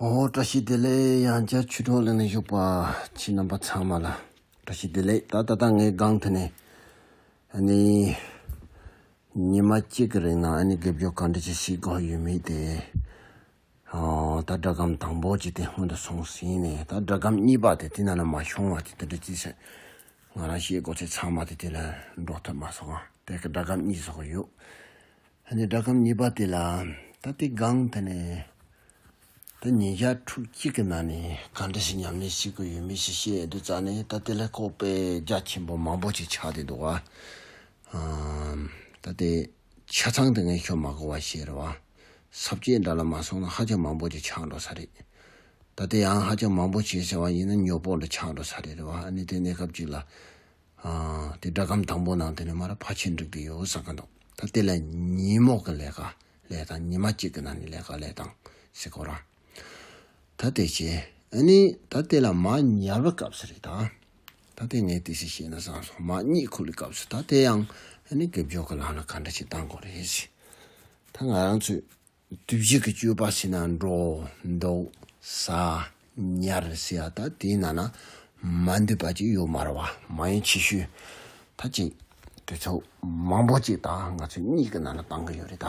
ཧོ། བཀྲ་ཤིས་བདེ་ལེགས་ཡང་བསྐྱར་ཆུ་གྲོགས་གླིང་ནས་བཞུགས་པ་ཁྱེད་རྣམ་པ་ཚང་མ་ལ་བཀྲ་ཤིས་བདེ་ལེགས་ད་ད་ལྟ་ངའི་སྒང་དུ་ནས་ཨ་ནི་ཉི་མ་གཅིག་གི་རིང་ནང་ཨ་ནི་དགེ་སྦྱོར་གང་འདྲ་ཅི་ཞིག་དགོས་ཡོད་མེད་དེ། ད་སྒྲ་སྒམ་དང་པོ་ཅི་སྟེ་སྔོན་དུ་སོང་ཟིན་ནས་ད་སྒྲ་སྒམ་གཉིས་པ་དེ་དེ་ན་ན་མ་བྱུང་བ་དེ་དེ་འདྲ་ཅི་ཟེར། ང་རང་ཤེས་དགོས་ཚེ་ཚང་མ་དེ་དེ་ལ་འགྲོ་ཐུབ་མ་སོང་ང་དེ་སྒྲ་སྒམ་གཉིས་བཟོ་གི་ཡོད། ཧ་ནས་སྒྲ་སྒམ་གཉིས་པ་དེ་ལ་ད་དེ་སྒང་དེ་ནས་ད་ཉིན་ཞག་ཕྲུག་གཅིག་གི་ནང་ནས་ག་འདྲ་ཞིག་ཉམས་ལེན་བྱེད་དགོས་ཡོད་མེད་ཞིག་ཤེས་ཡོད་དུ་བཙལ་ནས་ད་དེ་ལ་ཁོག་པའི་རྒྱ་ཆེན་པོ་མང་པོ་ཅིག་ཆགས་བསྡད་འདུག་བ། ད་དེ། ཆ་ཚང་དེ་ངས་ཤོ་མ་གོ་བ་ཞིག་རེད་བ། ཟབ་ཁྱད་འདྲ་ལ་མ་སོང་ན་ཧ་ཅང་མང་པོ་ཅིག་ཆགས་འགྲོ་ས་རེད། ད་ལྟ་ཡང་ཧ་ཅང་མང་པོ་བྱས་ཟེར་བ་ཡིན་ན་ཉོག་པོ་ལ་ཆགས་འགྲོ་ས་རེད་རེད་བ་ཨ་ནི་དེ་གནས་སྐབས་ཅིག་ལ། དེ་སྒྲ་སྒམ་དང་པོ་ནང་དེ་ནས་མ་ར་ཕ་ཆེ་འགྲིག་གི་ཡོད་བསམ་གི་འདུག་ད་དེ་ལ་ཉིན་མོག་གི་ལས་ཀ་ལས་དང་ཉི་མ་གཅིག་གི་ནང་ནས་ལས་ཀ་ལས་དང་ཟེར་གོ་རང། ད་ལྟའི་ཆེ། ཨ་ནི་ད་ལྟའི་ལ་མ་ཉར་བའི་སྐབས་སུ་རེད་ད། ད་ལྟའི་ངས་དེ་སྲིད་བཤད་ན་བཟང་སོང་མ་རྙེད་ཁུལ་གྱི་སྐབས་སུ་ད་ལྟའི་ཡང་ཨ་ནི་དགེ་སྦྱོར་གྱི་ལམ་ལ་ག་འདྲ་ཞིག་བཏང་དགོས་རེད། ད་ང་རང་ཚོས་དུས་བཞི་གི་སྤྱོད་པ་བྱས་ན་འགྲོ། འདུག། ཟ། ཉར་ཟེར་ཡ་ད་དེའི་ནང་ན་མ་འདུས་པ་ཅིག་ཡོད་མ་རེད་བ་མ་ཡིན་ཆེ་ཤོས་ད་ཅིག་དུས་ཚོད་མང་པོ་ཅིག་ད་ང་ཚོས་གཉིས་ཀྱི་ནང་ན་བཏང་གི་ཡོད་རེད་ད།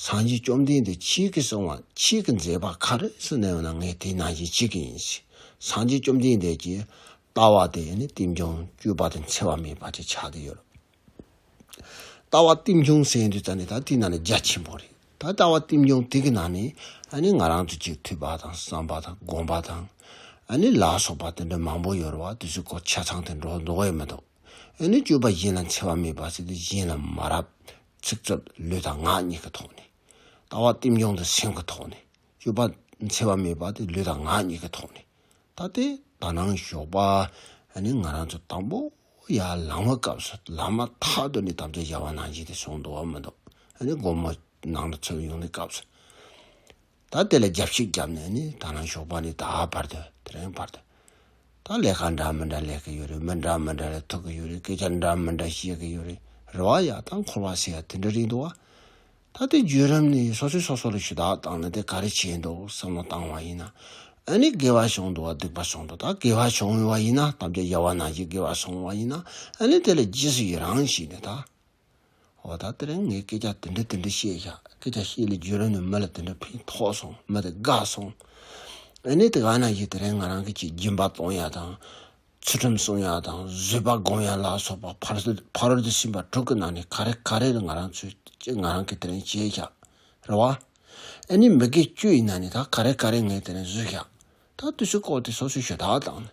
སངས་རྒྱས་བཅོམ་ལྡན་འདས་ཁྱེད་ཀྱིས་གསུང་བ་ཁྱེད་ཀྱི་མཛད་པ་ག་རེ་སུ་གནང་ན་ངས་དེ་གནང་བྱེད་ཅི་གི་ཡིན། སངས་རྒྱས་བཅོམ་ལྡན་འདས་ཀྱིས་ལྟ་བ་དེ་ནི་བསྟིམ་ཆུང་བཅུ་པ་དང་འཚེ་བ་མེད་པ་ཅིག་ཆགས་ཀྱི་ཡོད། ལྟ་བ་བསྟིམ་ཆུང་གསན་དུས་ད་ནི་ད་དེའི་ནང་ནས་རྒྱ་ཆེན་པོ་རེད། ད་ལྟ་བ་བསྟིམ་ཆུང་དེ་གི་ནང་ནས་ཨ་ནི་ང་རང་ཚོ་གཅིག་ཐུབ་པ་དང་བསམ་པ་དང་དགོངས་པ་དང། ཨ་ནི་ལག་སོགས་པ་དེ་འདྲ་མང་པོ་ཡོད་རེད་བ་དེ་ཚོའི་སྐོར་ཆ་ཚང་དེ་འགྲོ་འདོད་ཡོད་མི་འདུག་ཨ་ནི་བཅུ་པ་གཞན་ལ་འཚེ་བ་མེད་པ་ཟེར་དུས་གཞན་ལ་མ་རབས་ཚིག་རྩུབ་ལུས་དང་ངག་གཉིས་ཀྱི་ཐོག་ནས། ལྟ་བ་བསྟིམ་སྦྱོང་དང་སེམས་ཀྱི་ཐོག་ནས། སྤྱོད་པ་འཚེ་བ་མེད་པ་དེ་ལུས་དང་ངག་གཉིས་ཀྱི་ཐོག་ནས། ད་ལྟའི་དག་སྣང་ཞོགས་པ་ནི་ང་རང་ཚོ་དང་པོ་ཡ་ལང་བའི་སྐབས་སུ་ལག་མ་ཐག་ཏུ་ནས་དམ་བཅའ་བཞག་པ་ནང་བཞིན་དེ་སོང་འདུག་བ་མི་འདུག་ཨ་ནི་སྒོར་མོ་ནང་དུ་ཚུད་ཡོང་ནས་སྐབས་སུ། ད་དེ་ལ་རྒྱབ་ཤིག་བརྒྱབ་ནས་ནི་ད་ནང་ཞོགས་པ་ནི་ད་བར་དུ་དེ་རིང་བར་དུ། ད་ལས་ཀ་འདྲ་མི་འདྲ་ལས་ཀི་ཡོད་རེད་མི་འདྲ་མི་འདྲ་ལས་ཐུག་གི་ཡོད་རེད་སྐད་ཆ་འདྲ་མི་འདྲ་བཤད་གི་ཡོད་རེད་རེ་བ་ཡག་ད་འཁོར་བ་ཟེར་ཡ་དེ་འདྲ་རེད་འདུག་བ། ད་དེ་བརྒྱུད་རིམ་ནི་སོ་སོས་སོ་སོ་ལ་ཞུ་དག་བཏང་ནི་དེ་ག་རེ་བྱས་འདུག་བསམ་བློ་བཏང་བ་ཡིན་ན་ཨ་ནི་དགེ་བ་བྱུང་འདུག་བ་སྡིག་པ་བྱུང་འདུག་ད་དགེ་བ་བྱུང་བ་ཡིན་ན་དམ་བཅའ་རྒྱ་བ་ནང་བཞིན་དགེ་བ་སོང་བ་ཡིན་ན་ཨ་ནི་དེ་ལ་རྗེས་སུ་ཡི་རང་བྱས་ནི་ད། འོ་ད་ལྟ་ངས་སྐད་ཆ་དེ་འདྲ་དེ་འདྲ་བཤད་བཞག་སྐད་ཆ་བཤད་ལས་བརྒྱུད་རང་ནས་མི་ལ་དེ་འདྲ་ཕན་ཐོགས་སོང་མི་དེ་དགའ་སོང། ཨ་ནེ་དེ་ག་ན་ཡོད་དེ་རིང་ང་རང་གི་ཆེད་སྦྱིན་པ་གཏོང་ཡག་དང། ཚུལ་ཁྲིམས་བསྲུང་ཡག་དང་བཟོད་པ་སྒོམ་ཡག་ལ་སོགས་པ་ཕ་རོལ་ཏུ་ཕྱིན་པ་དྲུག་གི་ནང་ནས་ག་རེ་ག་རེ་ལ་ང་རང་ཚོས་ཀྱིས་ང་རང་གིས་དེ་རིང་བྱས་བཞག་རེད་བ། ཨ་ནེ་མི་དགེ་སྤྱོད་ཡིན་ན་ནི་ད་ག་རེ་ག་རེ་ངས་དེ་རིང་བཟོས་བཞག་ད་བརྟུལ་ཞུགས་ཁོག་དེ་སོ་སོའི་ཞོ་དག་དང།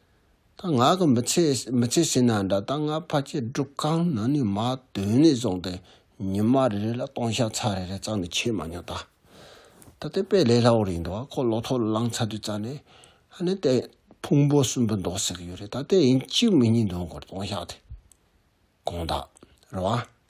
ད་ང་གི་མི་ཚེ་མི་ཚེ་ཟིན་ན་འདྲ་ད་ང་ཕ་ཁྱེད་སྒྲུབ་ཁང་ན་ནས་མ་དོན་ནས་བཟུང་སྟེ་ཉི་མ་རེ་རེ་ལ་སྟོང་ཤ་ཚ་རེ་རེ་བཙག་ནས་ཁྱེར་མ་མྱོང་ད། ད་ལྟའི་དཔེ་ལས་སླ་བོ་རེད་འདུག་ཁོ་ལོ་ཐོག་ལ་ལངས་ཚ་དུས་བཙག་ནས་ཧ་ནས་ལྟས་ཕུང་པོ་གསུམ་པོ་འདོགས་ཟེར་གྱི་ཡོད་རེད་ད་ལྟའི་ཡིན་གཅིག་མིན་གཉིས་འདོན་དགོས་རེད་སྟོང་ཤ་དེ་གང་དག་རེད་བ།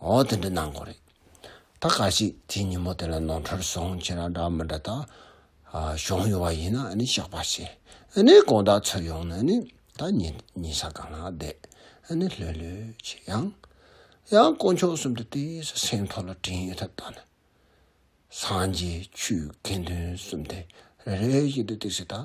འོ་དེ་འདྲ་གནང་དགོས་རེད། ད་ག་ཞིག་དེ་ཉིན་མོ་དེ་ལ་ནོར་འཁྲུལ་སོང་ཁྱེད་རང་འདྲ་མི་འདྲ་དག་བྱུང་ཡོད་པ་ཡིན་ན་ཤག་པ་བྱེད་དགོས་རེད་དགོངས་དག་ཚུར་ཡོང་ན་ནི་ད་ཉིན་ས་གང་ན་བསྡད་ནས་ལྷོད་ལྷོད་བྱེད་ཡང་ཡང་དཀོན་མཆོག་གསུམ་དུ་དེ་སྲིད་སེང་ཐོག་ལ་དྲིན་ཡོད་ཐབས་དང། སངས་རྒྱས་ཆོས་དགེ་འདུན་གསུམ་དེ་རེ་རེ་བཞིན་དུ་བཏེགས་སྲིད་ད་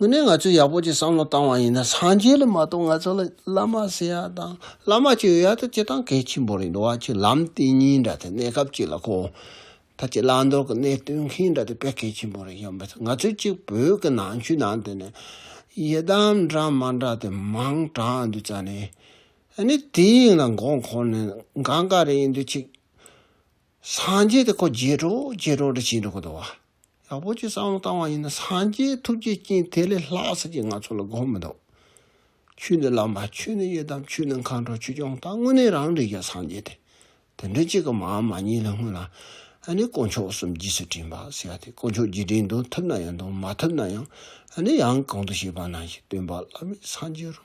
དངོས་གནས་ང་ཚོས་ཡག་པོ་ཅིག་བསམ་བློ་བཏང་བ་ཡིན་ན་སངས་རྒྱས་ལ་མ་གཏོགས་ང་ཚོ་ལ་བླ་མ་ཟེར་ཡག་དང་བླ་མ་གཅིག་ཡོད་ཡག་ད་སྤྱི་དང་གལ་ཆེན་པོ་རེད་འགྲོ་བ་ཆུ་ལམ་དེ་གཉིས་འདྲ་སྟེ་གནས་སྐབས་གཅིག་ལ་གོ། ད་སྤྱི་བླ་མདོར་གནས་སྟོན་མཁན་འདྲ་སྟེ་དཔེ་གལ་ཆེན་པོ་རེད་ཡོད་མི་སྲིད་ང་ཚོས་གཅིག་བོད་ཀྱི་ནང་ཆོས་ནང་དེ་ནས་ཡི་དམ་འདྲ་མ་འདྲ་དེ་མང་དྲགས་འདུག་རྩ་ནས་ནི་དེ་ཡིན་ལ་མགོ་འཁོར་ནས་འགའ་འགའ་རེ་ཡིན་འདུག་ཅིག། སངས་རྒྱས་དེ་ཁོ་རྗེས་གྲོགས་རྗེས་གྲོགས་འདྲ་བྱས་འགྲོ་གི་འདུག་བ། ཡག་པོ་ཅིག་བསམ་བློ་བཏང་བ་ཡིན་ན་སངས་རྒྱས་ཐུགས་རྗེའི་རྐྱེན་དེ་ལས་ལྷག་ཟེར་གྱི་ང་ཚོ་ལ་དགོངས་མི་འདུག་ཆོས་ནི་བླ་མ་ཆོས་ནི་ཡི་དམ་ཆོས་ནི་མཁའ་འགྲོ་ཆོས་སྐྱོང་དང་དངོས་གནས་རང་རིག་གི་སངས་རྒྱས་དེ་དེ་འདྲ་གཅིག་གི་མའམ་མ་གཉིས་ལས་སྔོན་ལ་ཨ་ནི་དཀོན་མཆོག་གསུམ་རྗེས་སུ་དྲན་པ་ཟེར་བ་དེ་དཀོན་མཆོག་རྗེས་དྲན་དུ་ཐུབ་ན་ཡང་དང་མ་ཐུབ་ན་ཡང་ཨ་ནི་ཡང་གང་དུ་བྱས་པ་ན་ཞིག་སྟོན་པ་བླ་མའི་སངས་རྒྱས་རུ།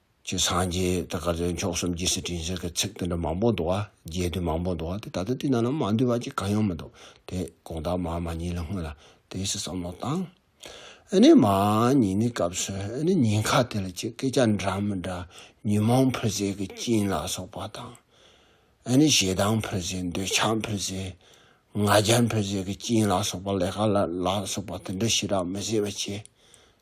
ཀྱི་སངས་རྒྱས་དེ་དགར་ཏེ་མཆོག་གསུམ་གྱི་སི་ཏྲིན་ཟེར་གི་ཚིག་དེ་འདྲ་མང་པོ་འདུག་ཨ་རྒྱས་དུས་མང་པོ་འདུག་ཨ་དེ་ད་ལྟ་དེ་རྣམས་ལ་མ་འདུས་པ་ཅིག་གང་ཡང་མི་འདུག་དེ་དགོངས་དག་མ་མ་ཉིད་ལ་སྔོན་ལ་དེ་སི་བསམ་བློ་བཏང། ཨེ་ནི་མ་ཉིད་ནི་སྐབས་སུ་ཨེ་ནི་ཉིན་ཁ་དེ་ལ་ཅིག་སྐད་ཆ་འདྲ་མི་འདྲ་ཉོན་མོངས་འཕུལ་ཟེར་གི་སྐྱིན་ལ་སོགས་པ་དང། ཨེ་ནི་ཞེ་སྡང་འཕུལ་ཟེར་འདོད་ཆགས་འཕུལ་ཟེར། ང་རྒྱལ་འཕུལ་ཟེར་གི་སྐྱིན་ལ་སོགས་པ་ལས་ཀ་ལ་ལ་སོགས་པ་དེ་འདྲ་ཞི་རགས་མི་བཟད་པ་བྱས།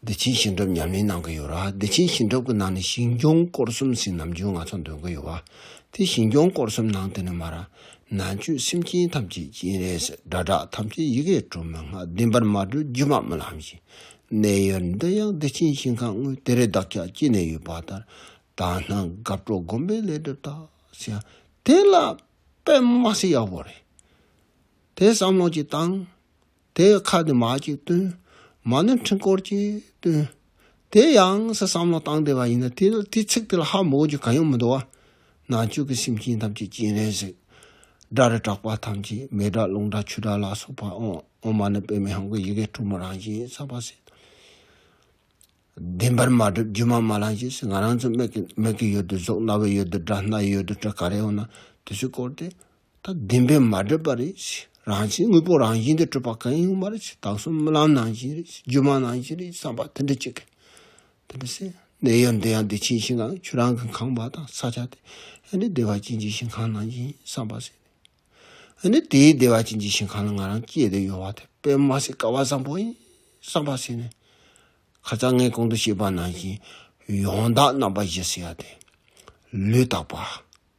བདེ་ཆེན་ཞིང་སྒྲུབ་ཉམས་ལེན་གནང་གི་ཡོད་ར་བདེ་ཆེན་ཞིང་སྒྲུབ་ཀྱི་ནང་ནས་ཞིང་སྐྱོང་སྐོར་གསུམ་ཟིན་ནམ་རྒྱུན་ང་ཚོ་འདོན་གི་ཡོད་བ་དེ་ཞིང་སྐྱོང་སྐོར་གསུམ་ནང་དེ་ནས་མ་ར་ན་ཆོས་སེམས་ཅན་ཐམས་ཅད་སྤྱན་རས་སྒྲ་བསྒྲགས་ཐམས་ཅད་ཡི་གེ་གྲུབ་མི་སྔགས་བདེན་པར་མ་གྲོལ་རྒྱུ་མ་མི་ལྷམ་བཞིན་གནས་ཡོད་འདི་ཡང་བདེ་ཆེན་ཞིང་ཁམས་དངོས་དེ་རེ་བདག་ཅག་སྐྱེ་ནས་ཡོད་པ་ལྟར་དག་སྣང་དགའ་སྤྲོ་སྒོམ་པའི་ལས་སྒྲུབ་དག་བྱས་ཡང་དེ་ལ་པད་མ་སེ་ཡག་པོ་རེད་དེ་བསམ་བློ་གཅིག་བཏང། དེ་ཡི་ཁ་ནི་མ་ཅིག་སྟོན། མ་ནི་འཕྲིན་སྐོར་གྱིས་སྟོན། དེ་ཡང་སྲིད་བསམ་བློ་བཏང་བདེ་བ་ཡིན། དེ་ཚིག་དེ་ལ་ཧ་མོ་ཀྱི་གང་ཡང་མི་འདུ་བ། ནང་བཅུད་ཀྱི་སེམས་ཅན་ཐམས་ཅད་སྤྱན་རས་གཟིགས། སྒྲ་རི་གྲགས་པ་ཐམས་ཅད་མེ་སྒྲ་རླུང་སྒྲ་ཆུ་སྒྲ་ལ་སོགས་པ། འོག་མ་ནི་པདྨའི་ཧང་གི་ཡི་གེ་དྲུག་མ་རང་བཞིན་གསལ་བར་གསལ། བདེན་པར་མ་གྲུབ་སྒྱུ་མ་མ་ལང་ཞེས་ང་རང་ཚོའི་མིག་གི་ཡུལ་དུ་གཟུགས་རྣ་བའི་ཡུལ་དུ་སྒྲ་སྣ་ཡུལ་དུ་སྤྲུལ་ག་རེ་ཡོད་ན་དེ་ཚོས་བསྐོར་ཏེ་ད་བདེན་པས་མ་བསྒྲིབས་པ་རེད། རང་བཞིན་དངོས་པོ་རང་བཞིན་དུ་གྲུབ་པ་གང་ཡིན་ངོ་མ་རེད། དྭངས་གསུམ་རྨི་ལམ་ནང་བཞིན་རེད། སྒྱུ་མ་ནང་བཞིན་རེད་བསམ་པ་དེ་འདྲ་གཅིག་གི། དེ་འདྲ་སེམས་གནས་ཡང་བདེ་ཡང་བདེ་ཆེན་ཞིང་ཁམས་ཁྱོད་རང་གི་ཁང་པ་དང་ས་ཆ་དེ། ཧད་ནི་བདེ་བ་ཅན་གྱི་ཞིང་ཁམས་ནང་བཞིན་བསམ་པ་སེམས། ཧད་ནི་དེའི་བདེ་བ་ཅན་གྱི་ཞིང་ཁམས་ལ་ང་རང་སྐྱེས་དེ་ཡོང་བ་དེ་དཔེ་མ་སྲིད་ཀ་བ་བཟང་པོ་ཡིན་བསམ་པ་སེམས། ཁ་ཚ་ངས་གོང་དུ་བཤད་པ་ནང་བཞིན་ཡོངས་དག་རྣམ་པ་བཞི་ཟེར་བ་དེ། ལུས་དག་པ།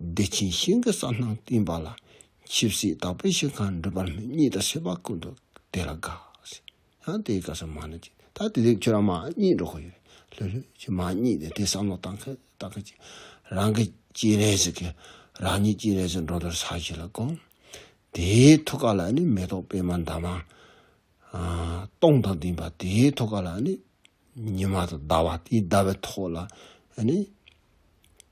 བདེ་ཆེན་ཞིང་གི་རྩ་སྣང་བསྟན་པ་ལ། ཆིབས་སེ་དག་པའི་ཞིང་ཁམས་འགྲུབ་པར་སྨོན་གཉིས་དང་བྱེད་པ་ཀུན་ཏུ་དེ་ལ་དགའ། ཡང་དེའི་སྐབས་སུ་མ་ནི་ཅི་ད་དེ་དེབ་ཁྱོད་རང་མ་གཉིས་འགྲོ་གི་ཡོད་ལྷོད་ལྷོད་ཀྱི་མ་གཉིས་ནི་དེ་བསམ་བློ་བཏང་གི་བཏང་གི་ཅིག་རང་གི་སྐྱིད་ལས་སུ་གི་རང་ཉིད་སྐྱིད་ལས་སུ་འགྲོ་འདོད་ས་གཞི་ལ་བསྒོམ། དེའི་ཐུགས་ཀ་ལ་ནི་མེ་ཏོག་པད་མ་འདབ་མ་སྟོང་དང་ལྡན་པ་དེའི་ཐུགས་ཀ་ལ་ནི་ཉི་མ་དང་ཟླ་བ་དེའི་ཟླ་བའི་ཐོག་ལ་ནི།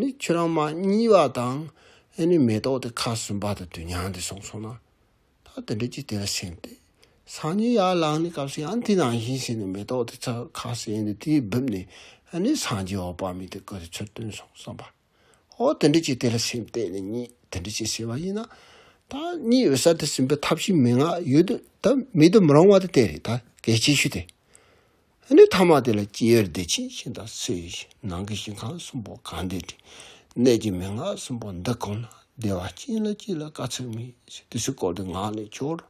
ནི་ཁྱོད་རང་མ་གཉིས་པ་དང་ནི་མེ་ཏོག་དེ་ཁ་ཟུམ་པ་དང་དུས་མྱང་འདི་སོང་སོང་ན། ད་དེ་འདྲས་ཀྱིས་དེ་ལ་སེམས་ཏེ། སང་ཉིན་ཡར་ལངས་ནས་སྐབས་སུ་ཡང་དེ་ནང་བཞིན་བྱས་ནས་མེ་ཏོག་དེ་ཚ་ཁ་ཟས་འདི་དེས་སྦུབས་ནས་ནི་སང་རྗེས་འོག་པགས་མིག་དེ་བསྐོལ་ཏེ་ཚུར་བཏོན་སོང་བསམ་པ། ཨོ་དེ་འདྲས་ཀྱིས་དེ་ལ་སེམས་ཏེ་ནི་གཉིད་དེ་འདྲས་ཀྱིས་སད་པ་ཡིན་ན། ད་གཉིད་འོད་གསལ་དེ་ཟིན་པའི་ཐབས་ཤིག་མི་ང་ཡོད་དུ་ད་མེད་དུ་མི་རུང་བ་དེ་དེ་རེད་ད་གལ་ཆེ་ཤོས་དེ། ནི་ཐ་མ་དེ་ལ་སྐྱེའི་བདེ་ཆེན་ཞིང་དང་སའི་ཞིང་ནང་གི་ཞིང་ཁམས་གསུམ་པོ་གང་འདི་དྲི་གནས་ཀྱི་མན་ངག་གསུམ་པོ་འདི་གོམས་ན་བདེ་བ་ཅན་ལ་སྐྱེ་ལ་དཀའ་ཚེགས་མེད་ཞེས་དུས་སུ་བཀོད་དེ་ངག་ནས་སྦྱོར།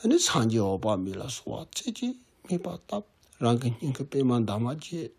ནི་སངས་རྒྱས་འོག་པ་མི་ལ་སོགས་བ་རྩེ་གཅིག་སྨྲས་པ་བཏབ་རང་གི་སྙིང་གི་པདྨ་འདབ་མ་བརྒྱད།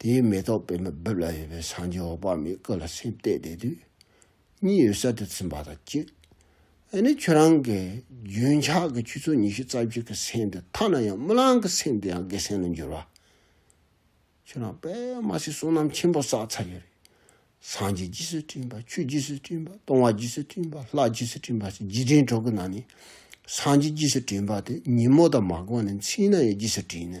དེའི་མེ་ཏོག་པད་མོ་སྦུབས་ལ་ཡོད་པའི་སངས་རྒྱས་འོག་པགས་མའི་སྐུ་ལ་སེམས་གཏད་བསྡད་དུས། གཉིད་ཡོད་གསལ་དུ་ཚིམས་པ་དང་གཅིག། འདི་ནི་ཁྱོད་རང་གི་རྒྱུན་ཆགས་ཀྱི་ཆུ་ཚོད་ཉི་ཤུ་རྩ་བཞི་གི་སེམས་དེ་ཐ་ན་ཡང་རྨི་ལམ་གྱི་སེམས་དེ་ཡང་དགེ་སེམས་ལ་འགྱུར་བ། ཁྱོད་རང་པད་མ་སའི་བསོད་ནམས་ཆེན་པོ་བསགས་ཚར་ཡོད་རེད། སངས་རྒྱས་རྗེས་སུ་དྲན་པ་ཆོས་རྗེས་སུ་དྲན་པ་སྟོང་བ་རྗེས་སུ་དྲན་པ་ལྷ་རྗེས་སུ་དྲན་པ་སོགས་རྗེས་དྲན་གྲོགས་ཀྱི་ནང་ནས་སངས་རྒྱས་རྗེས་སུ་དྲན་པ་དེ་ཉིན་མོ་དང་མ་དགོངས་ནས་མཚན་ན་ཡང་རྗེས་སུ་དྲན།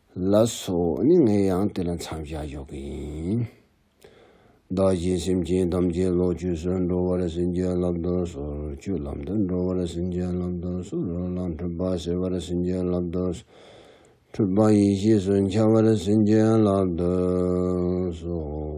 ལ་སོགས་ནི་ངས་ཡང་དེ་ལ་མཚམས་བཞག་འཇོག་གི་ཡིན། བདག་གིས་སེམས་ཅན་ཐམས་ཅད་ལོག་སྤྱོད་སུ་འགྲོ་བར་སེམས་ཅན་ལབ་བདོ་སོ། སྤྱོད་ལམ་དུ་འགྲོ་བར་སེམས་ཅན་ལབ་བདོ་སོ། རོ་ལངས་འཁྲུལ་པ་སེལ་བར་སེམས་ཅན་ལབ་བདོ་སོ། འཁྲུལ་པ་ཡེ་ཤེས་སུ་འཆར་བར་སེམས་ཅན་ལབ་བདོ་སོ།